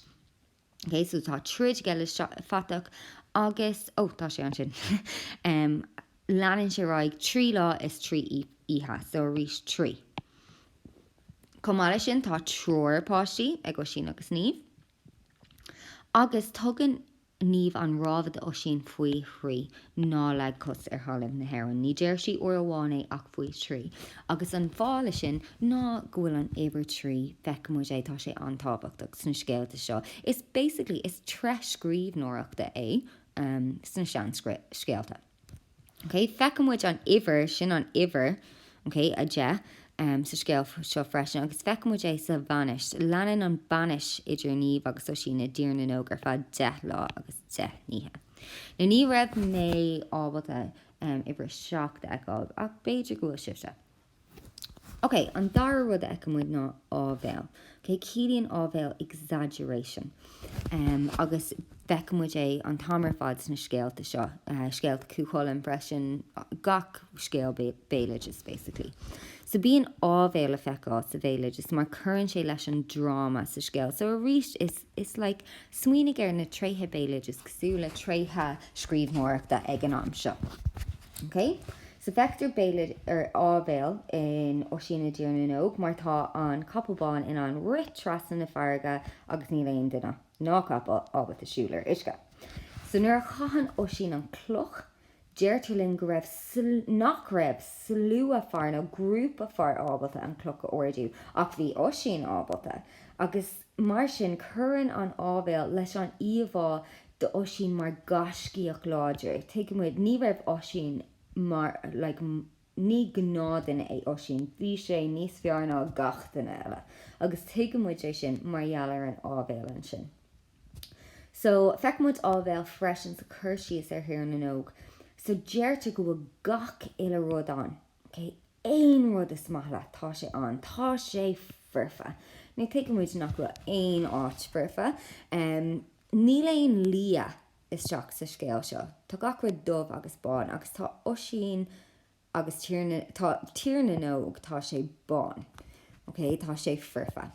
ok, so tá troid aige le fathach agus, ó, tá sé ansin, leanann sé ar aghaidh trí lá is trí oíche, so arís trí. Chomh maith leis sin, tá triúr páistí ag Oisín agus Niamh. Agus tugann Niamh an rabhadh d'Oisín faoi thrí, Ná leag cos ar thalamh na hÉireann. Ní deir sí uair amháin é ach faoi thrí. Agus an fáth leis sin ná go bhfuil an uimhir trí, feicimid é, tá sé an-tábhachtach sna scéalta seo. Is basically, is tréith scríbhneoireachta é sna seanscéalta. Okay, feicimid an uimhir, sin an uimhir, okay, a deich, sa scéal seo freisin agus feicimid é sa bhainis. Leanann an bainis idir Niamh agus Oisín i dTír na nÓg ar feadh deich lá agus deich n-oíche. Now ní raibh mé ábalta uimhir a seacht a fheiceáil ach b'fhéidir go bhfuil sibhse. OK, an dara rud a fheicimid ná áibhéil. OK, ciallaíonn áibhéil exaggeration. Agus feicimid é an t-am ar fad sna scéalta seo, scéalta Chú Chulainn freisin, gach scéal béaloidis basically. So bíonn áibhéil le feiceáil sa bhéaloideas mar cuireann sé leis an dráma sa scéal. So arís is like smaoinigh ar na tréithe béaloidis cosúil le tréithe scríbhneoireachta ag an am seo. OK? So feictear béim ar áibhéil in Oisín i dTír na nÓg mar tá an capall bán in ann rith trasna na farraige agus níl aon duine, ná capall, ábalta siúl ar uisce. So nuair a chaitheann Oisín an cloch, deirtear linn go raibh, nach raibh, slua fear nó grúpa fear ábalta an cloch a ardú, ach bhí Oisín ábalta, agus, Mar sin, cuireann an áibhéil leis an íomhá d'Oisín mar gaiscíoch láidir. Tuigimid, ní raibh Oisín mar, like, ní gnáthduine é Oisín, bhí sé níos fearr ná gach duine eile, agus tuigimid é sin mar gheall ar an áibhéil ansin. So, feicimid áibhéil freisin sa chur síos ar Thír na nÓg. So, deirtear go bhfuil gach uile rud ann. Okay, aon rud is maith leat, tá sé ann. Tá sé foirfe. Ní thuigimid nach bhfuil aon áit foirfe. Níl aon liath isteach sa scéal seo. Tá gach rud dubh agus bán, agus tá Oisín agus Tír na, tá Tír na nÓg, tá sé bán. Ok? Tá sé foirfe.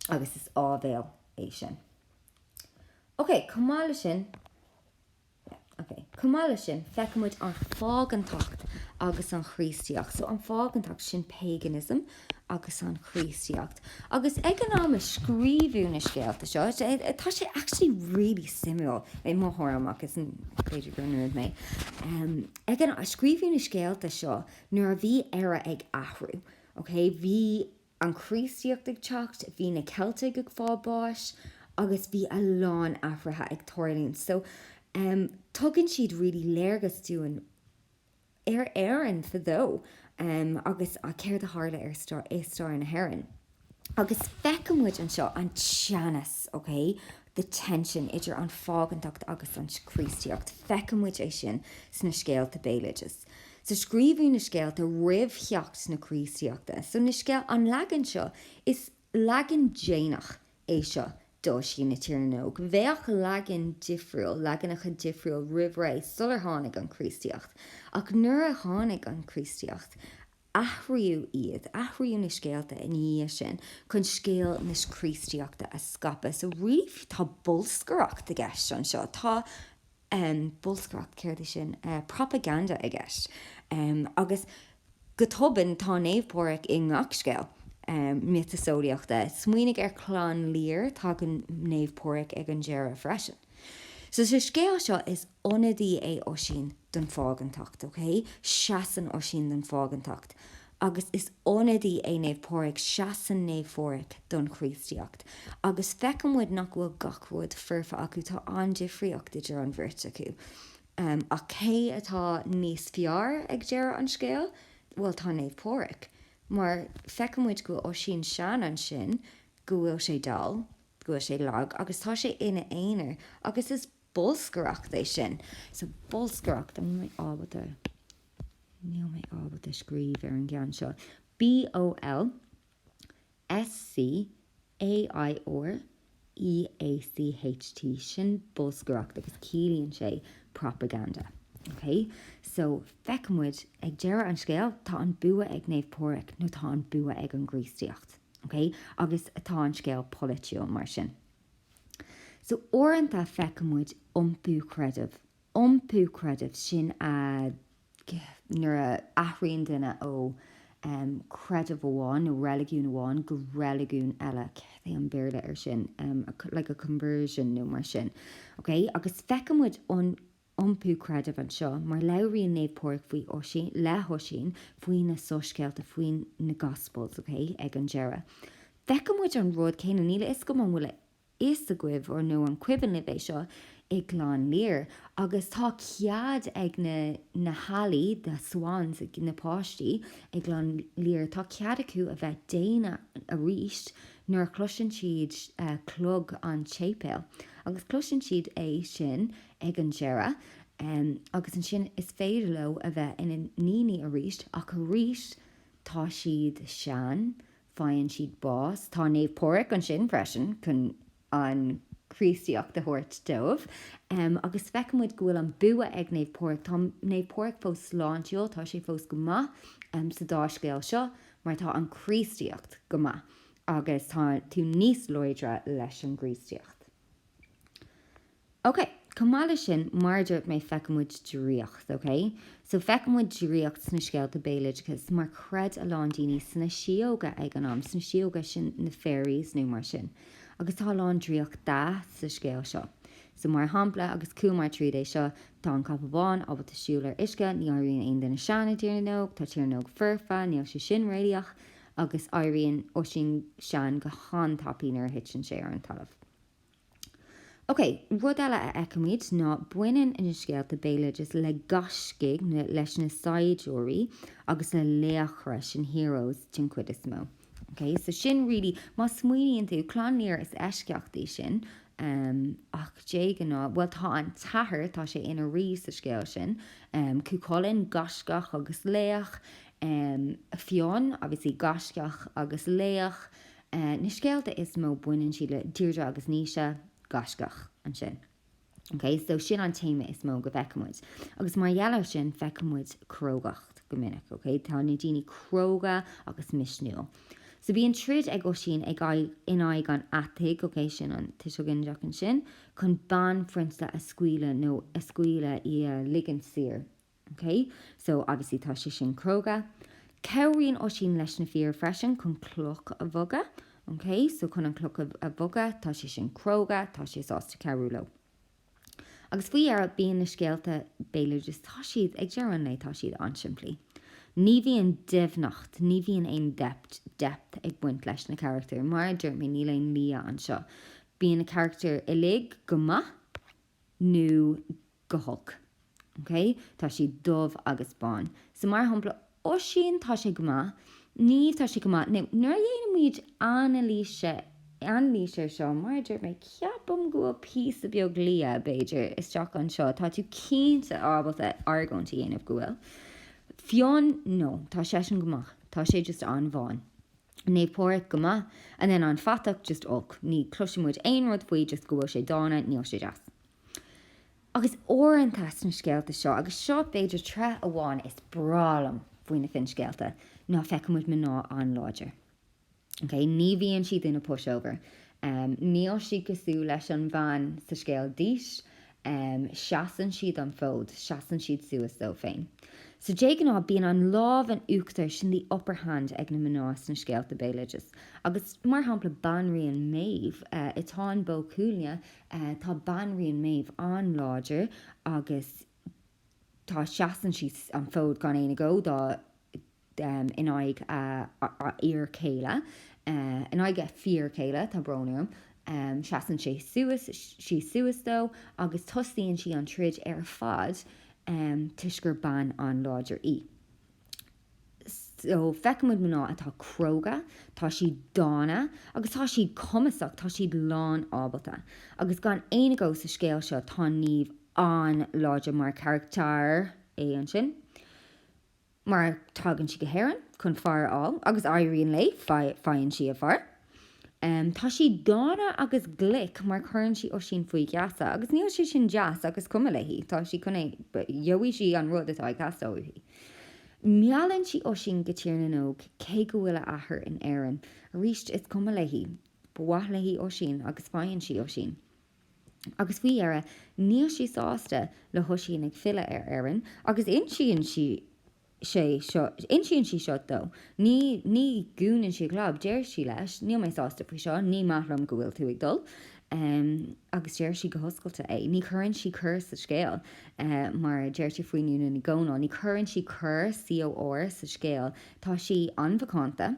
Agus is áibhéil é sin. Ok, chomh maith leis sin. Chomh maith leis sin, feicimid an phágantacht agus an Chríostaíocht, so an phágantacht, sin paganism, agus an Chríostaíocht. Agus ag an am a scríobhadh na scéalta seo, tá sé actually really suimiúil, i mo thuairim, ach is féidir gur nerd mé, ag an am a scríobhadh na scéalta seo, nuair a bhí Éire ag athrú, okay, bhí, an Chríostaíocht ag teacht, bhí na Ceiltigh ag fáil báis agus bhí a lán athruithe ag tarlú ann. So, em, tugann siad really léargas dúinn ar Éirinn fadó, em, agus céard a tharla ar stair, i stair na hÉireann. Agus feiceann muid anseo an teannas, okay, the tension idir an phágantacht agus an Chríostaíocht, feiceann muid é sin sna scéalta béaloidis. So scríobhadh na scéalta roimh theacht na Críostaíochta, so na scéal, an leagan seo, is leagan déanach é seo d'Oisín na Tíre nÓg. Bheadh leagan difriúil, leaganacha difriúil roimh ré, sular tháinig an Chríostaíocht. Ach nuair a tháinig an Chríostaíocht, Athraíodh iad, athraíodh na scéalta ina dhiaidh sin chun scéal na Críostaíochta a scaipeadh. So really tá bolscaireacht i gceist anseo, tá ehm, bolscaireacht, céard é sin, eh propaganda i gceist. Ehm, agus go tobann tá Naomh Pádraig i ngach scéal, ehm, miotaseolaíochta. Smaoinigh ar Chlann Lir, tagann Naomh Pádraig ag an deireadh freisin. So sa scéal seo is. Ionadaí é Oisín don phágantacht, ok? Seasann Oisín don phágantacht. Agus is ionadaí é Naomh Pádraig, seasann Naomh Phádraig don Chríostaíocht. Agus feiceann muid nach bhfuil gach rud foirfe acu, tá an-difríocht idir an bheirt acu. Ach cé atá níos fearr ag deireadh an scéil? Bhuel, tá Naomh Pádraig. Mar feiceann muid go bhfuil Oisín sean ansin, go bhfuil sé dall, go bhfuil sé lag, agus tá sé ina aonar. Agus is. Bolscaireacht é sin. So bolscaireacht, níl mé ábalta, níl mé ábalta scríobh ar an gceann seo, B-o-l-s-c-a-i-r-e-a-c-h-t, sin bolscaireacht agus ciallaíonn sé propaganda. OK? So, feiceann muid, ag deireadh an scéil, tá an bua ag Naomh Pádraig nó tá an bua ag an gCríostaíocht. OK? Agus tá an scéal polaitiúil mar sin. So uaireanta feiceann muid iompú creidimh, iompú creidimh, sin a, nuair a athraíonn duine ó chreideamh amháin nó reiligiún amháin go reiligiún eile, céard é an Béarla ar sin, like a conversion nó mar sin, okay, agus feiceann muid an, iompú creidimh anseo, mar labhraíonn Naomh Pádraig faoi Oisín, le hOisín, faoi na soiscéalta, faoi na gospels, ok, ag an deireadh. Feiceann muid an rud céanna, níl a fhios agam an bhfuil a fhios agaibh or nó an cuimhin libh é seo, i gClann Lir, agus tá cead ag na, na healaí, the swans, na páistí i gClann Lir, tá cead acu a bheith daonna arís nuair a chloiseann siad clog an tséipéil, agus cloiseann siad é sin ag an deireadh agus ansin is féidir leo a bheith ina ndaoine arís, ach arís tá siad sean, faigheann siad bás, tá Naomh Pádraig ansin freisin chun an Chríostaíocht a thabhairt dóibh agus feiceann muid go bhfuil an bua ag Naomh Pádraig, tá Naomh Pádraig fós sláintiúil, tá sé fós go maith sa dá scéal seo mar tá an Chríostaíocht go maith agus tá tú níos láidre leis an gCríostaíocht. OK, chomh maith leis sin, mar a dúirt mé, feicimid draíocht, OK? So, feicimid draíocht sna scéalta béaloideachais mar chreid a lán daoine sna síóga ag an am, sna síóga, sin na fairies nó mar sin. Agus tá a lán draíochta sa scéal seo. So, mar shampla, agus chuamar tríd é seo, tá an capall bán ábalta siúl ar uisce, ní éiríonn aon duine sean i dTír na nÓg, tá Tír na nÓg foirfe, níl sé sin réalaíoch, agus éiríonn Oisín sean go han-tapaidh nuair a thiteann sé ar an talamh. OK, rud eile a fheicimid ná baineann na scéalta béaloidis le gaiscígh, leis na saighdiúirí agus le laochra, sin heroes den chuid is mó. OK, so sin really, má smaoiníonn tú, Clann Lir is eisceacht í sin em ach de ghnáth, bhuel tá an t-athair, tá sé ina rí sa scéal sin, em Cú Chulainn, gaiscíoch agus laoch, em Fionn obviously gaiscíoch agus laoch, Na scéalta is mó, baineann siad le Deirdre agus Naoise, gaiscíoch ansin. Ok, so sin an téama is mó go bhfeicimid. Agus mar gheall ar sin, feicimid crógacht go minic, ok? Tá na daoine cróga agus misniúil. So bhíonn troid ag Oisín ag, in aghaidh an fhathaigh, ok, sin an tuiseal ginideach ansin, chun banphrionsa a scaoileadh nó a scaoileadh, í a ligint saor. OK, so obviously tá sé sin cróga. Cabhraíonn Oisín leis na fir freisin chun cloch a bhogadh. OK, so chun an chloch a bhogadh, tá sé sin cróga, tá sé sásta cabhrú leo. Agus faoi dheireadh, bíonn na scéalta béaloidis, tá siad, ag deireadh an lae, tá siad an-simplí. Ní bhíonn doimhneacht, ní bhíonn aon depth, depth, ag baint leis na carachtair. Mar a dúirt mé, níl aon liath anseo. Bíonn na carachtair uilig go maith. nó go holc. OK? Tá siad dubh agus bán. So mar shampla, Oisín, tá sé go maith. Niamh, tá sé go maith. Now, nuair a dhéanaimid anailís, anailís ar seo, mar a dúirt mé, ceapaim go bhfuil píosa beag liath, b'fhéidir, isteach anseo. Tá tú cinnte ábalta argóint a dhéanamh go bhfuil. Fionn, no, tá seisean go maith. Tá sé just an-bhán. Naomh Pádraic go maith and then an fatach just olc, ní chloiseann muid aon rud faoi just go bhfuil sé dána, níl sé deas. Agus uaireanta sna scéalta seo, agus seo b'fhéidir tréith amháin is breá liom faoi na finscéalta, ná feiceann muid mná an-láidir. Ok, ní bhíonn siad ina pushover, níl sí cosúil leis an bhean sa scéal Dís, em, seasann siad an fód, seasann siad suas dóibh féin. So, dé ghnáth, bíonn an lámh in uachtar, sin the upper hand ag na mná sna scéalta béaloidis. Agus, mar shampla, Banríon Méabh, eh, i Táin Bó Cuailgne, eh, tá Banríon Méabh an-láidir agus tá, seasann siad an fód gan aon agó dá, in aghaidh a fhir céile, in aghaidh a fir céile, tá brón orm, seasann sé suas, sí suas dó agus tosaíonn sí an troid ar fad toisc gur bean an-láidir í. So feicimid mná atá cróga, tá siad dána agus tá siad cumasach, tá siad lán ábalta. Agus gan aon agó sa scéal seo tá Niamh an-láidir mar charactar, é ansin. mar tagann sí go hÉirinn chun fear a fháil agus éiríonn léi, faigheann sí a fear. Tá sí dána agus glic mar cuireann sí Oisín faoi gheasa agus níl sé sin deas agus is cuma léi, tá sí chun é, gheobhaidh sí an rud atá ag teastáil uaithi. Meallann sí Oisín go Tír na nÓg cé go bhfuil a athair in Éirinn. Arís is cuma léi, ba mhaith léi Oisín agus faigheann sí Oisín. Agus faoi dheireadh, níl sí sásta le hOisín ag filleadh ar Éirinn agus insíonn sí sé seo, insíonn sí seo dó. Ní, ní dhúnann sí a clab, deir sí leis, níl mé sásta faoi seo, ní maith liom go bhfuil tú ag dul. Agus deir sí go hoscailte é. Ní chuireann sí cor sa scéal, mar a deirtear faoi Dhún na nGall, ní chuireann sí cor, COR, sa scéal. Tá sí an-mhacánta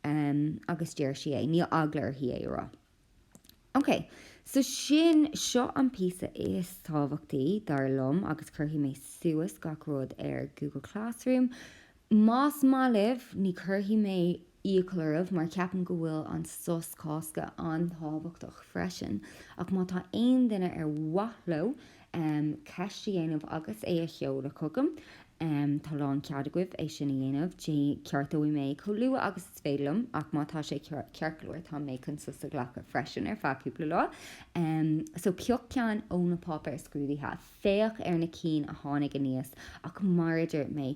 agus deir sí é. Níl eagla uirthi é a rá. Ok, so sin, seo an píosa is tábhachtaí, dar liom, agus cuirfidh mé suas gach rud ar Google Classroom, más maith libh, ní cuirfidh mé iachall oraibh, mar ceapaim go bhfuil an sos Cásca an-tábhachtach freisin, ach má tá aon duine ar mhaith leo um ceist a dhéanamh agus é a sheoladh chugam. um Tá lán cead agaibh é sin a dhéanamh. Ceartóidh mé chomh luath agus is féidir liom, ach má tá sé ceart go leor, tá mé chun sos a ghlacadh freisin ar feadh cúpla lá. um So pioc ceann ó na páipéir scrúdaithe, féach ar na cinn a tháinig aníos ach mar a dúirt mé